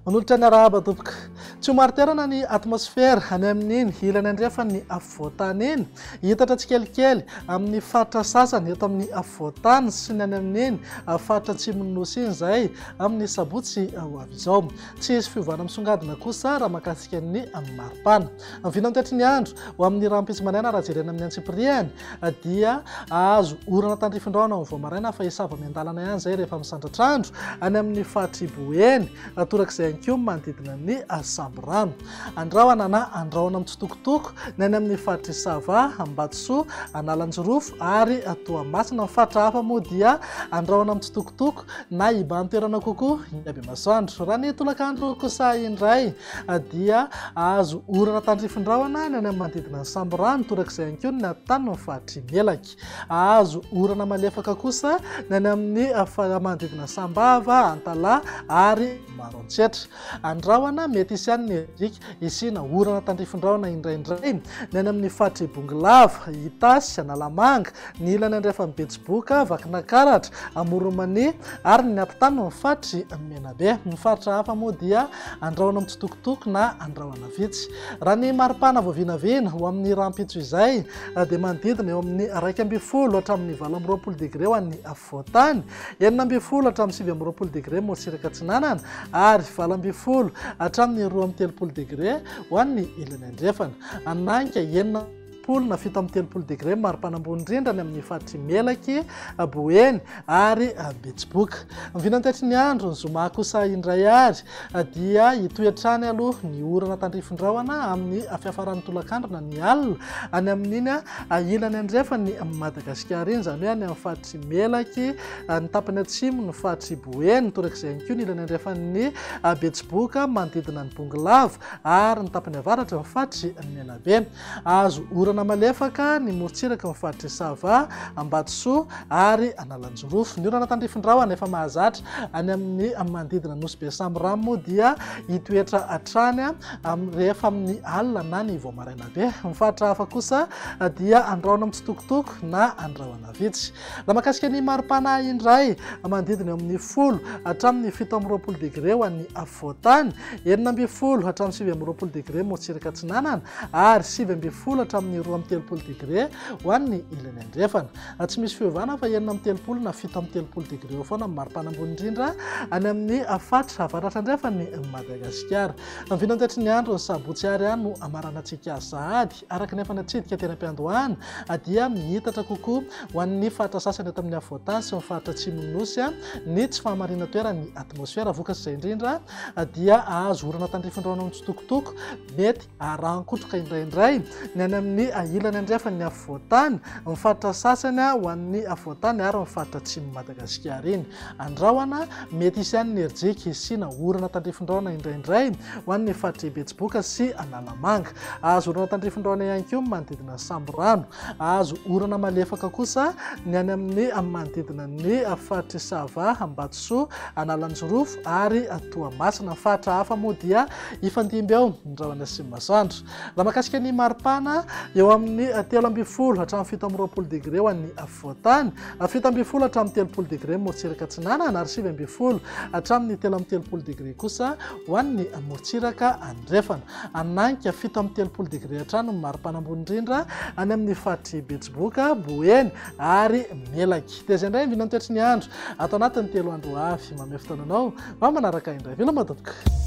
Manolotra ny arahaba tompoko. Tsy ho mariterana ny atmosfera any amin'iny ilany andrefan'ny afovoantany iny. Hitatra tsikelikely amin'ny faritra sasany eto amin'ny afovoantany sy ny any amin'iny faritra atsimon'ny nosy iny izay amin'ny sabotsy ho avy izao. Tsy hisy fiovana misongadina kosa raha mahakasika ny maripana. Ny vina mikatry ny andro ho amin'ny rahampitso maraina raha jerena amin'ny antsipiriany dia ahazo orana tandrifin-drahona amin'ny vao maraina fa hisava miandalana ihany izay rehefa misandratra andro any amin'ny fahatribo eny torak'izay ihany koa manodidina ny samborano. Andrahona na andrahona mitsitokotoko ny any amin'ny faritry Sava, Ambatosoa, Analanjirofo ary Toamasina. Ny faritra hafa moa dia andrahona mitsitokotoko. na hibahan-toerana kokoa iny habemasoandro. Raha ny tolakandro kosa indray dia azo orana tandrifin-drahona ny any amin'ny manodidina ny samborano, torak'izay ihany koa ny tany amin'ny faritry Melaky. Azo orana malefaka kosa ny any amin'ny manodidina Sambava, Antalaha ary Maroantsetra. Andrahona, mety hisy ihany ny hedrika hisiana orana tandrifin-drahona indraindray ny any amin'ny faritr'i Bongolava, Itasy, Analamanga, ny ilany andrefan'i Betsiboka, Vakinankaratra, Amoron'Mania ary ny atitany ny faritr'i Menabe. Ny faritra hafa moa dia andrahona mitsitokotoko na andrahona vitsy. Raha ny maripana vao vinavina ho amin'ny rahampitso izay dia manodidina eo amin'ny iraika ambin'ny folo hatramin'ny valo amby roapolo degre ho an'ny Voatany, enina ambin'ny folo hatramin'ny sivy amby roapolo degre morotsiraka atsinanana ary valo ambin'ny folo hatramin'ny roa amby telopolo degre ho an'ny ilany andrefana. Ananka, enina folo na fito amby telopolo degre maripana ambony indrindra any amin'ny faritr'i Melaky, Boeny ary Betsiboka. Mivinantaitry ny andro ny zoma kosa indray ary dia hitohy hatrany aloha ny orana tandrifin-drahona amin'ny fiafaran'ny tolakandro na ny alina any amin'iny ilany andrefan'i Madagasikara iny, izany hoe any amin'ny faritry Melaky, ny tapany atsimo ny faritry Boeny, torak'izay ihany koa ny ilany andrefan'ny Betsiboka manodidina ny Bongolava ary ny tapany avaratra ny faritry Menabe. Hahazo orana malefaka ny morontsiraka ao amin'ny faritr'i Sava, Ambatosoa ary Analanjirofo. Ny orana tandrifin-drahona efa mahazatra any amin'ny manodidina Nosy be Samorano moa dia hitoetra hatrany rehefa amin'ny alina na ny vao maraina be. Ny faritra hafa kosa dia andrahona mitsitokotoko na andrahona. vitsy. Raha mahakasika ny mari-panahy indray, manodidina eo amin'ny folo hatramin'ny fito amby roapolo degre ho an'ny afovoan-tany, enina ambin'ny folo hatramin'ny sivy amby roapolo degre morotsiraka atsinanana ary sivy ambin'ny folo hatramin'ny roa amby telopolo degre ho an'ny ilany andrefana. Na tsy misy fiovana fa enina amby telopolo na fito amby telopolo degre eo foana amin'ny mari-panahy ambony indrindra any amin'ny fatra avaratra andrefan'i Madagasikara. Ny vinantatry ny andro ny sabotsy ary no hamaranantsika sahady. Araka ny efa natsidika teny am-piandohana dia mihitatra kokoa ho an'ny faritra sasany eto amin'ny afovoantany sy ny faritra atsimon'ny nosy ny tsy fahamarinan-toeran'ny atmosfera. Vokatr'izay indrindra dia hahazo orana tandrifin-drano amin'ny tsitokotoko mety harahan-kotroka indraindray ny any amin'ny ilany andrefan'ny afovoantany, ny faritra sasany ho an'ny afovoantany ary ny faritra atsimon'i Madagasikara iny. Andrahona mety hisy ihany ny rijiky hisiana orana tandrifin-drano indraindray ho an'ny faritr'i Betsiboka sy Analamanga. Azo orana tandrifin-drano ihany koa ny manodidina ny sambirano. Azo orana malefaka kosa ny any amin'ny manodidina ny faritry Sava, Ambatosoa, Analanjirofo ary Toamasina. Ny faritra hafa moa dia hifandimby ao ny rahona sy ny masoandro. Raha mahakasika ny maripana, eo amin'ny telo ambin'ny folo hatramin'ny fito amby roapolo degre ho an'ny afovoan-tany, fito ambin'ny folo hatramin'ny telopolo degre ny morontsiraka atsinanana ary sivy ambin'ny folo hatramin'ny telo amby telopolo degre kosa ho an'ny morontsiraka andrefana. Ananka, fito amby telopolo degre hatrany ny mari-panambony indrindra any amin'ny faritr'i Betsiboka, Boeny ary Melaky. Dia izay indray ny vinantoetry ny andro ato anatin'ny telo andro ho avy. Mamehy fotoana anao mba manaraka indray. Veloma tompoko.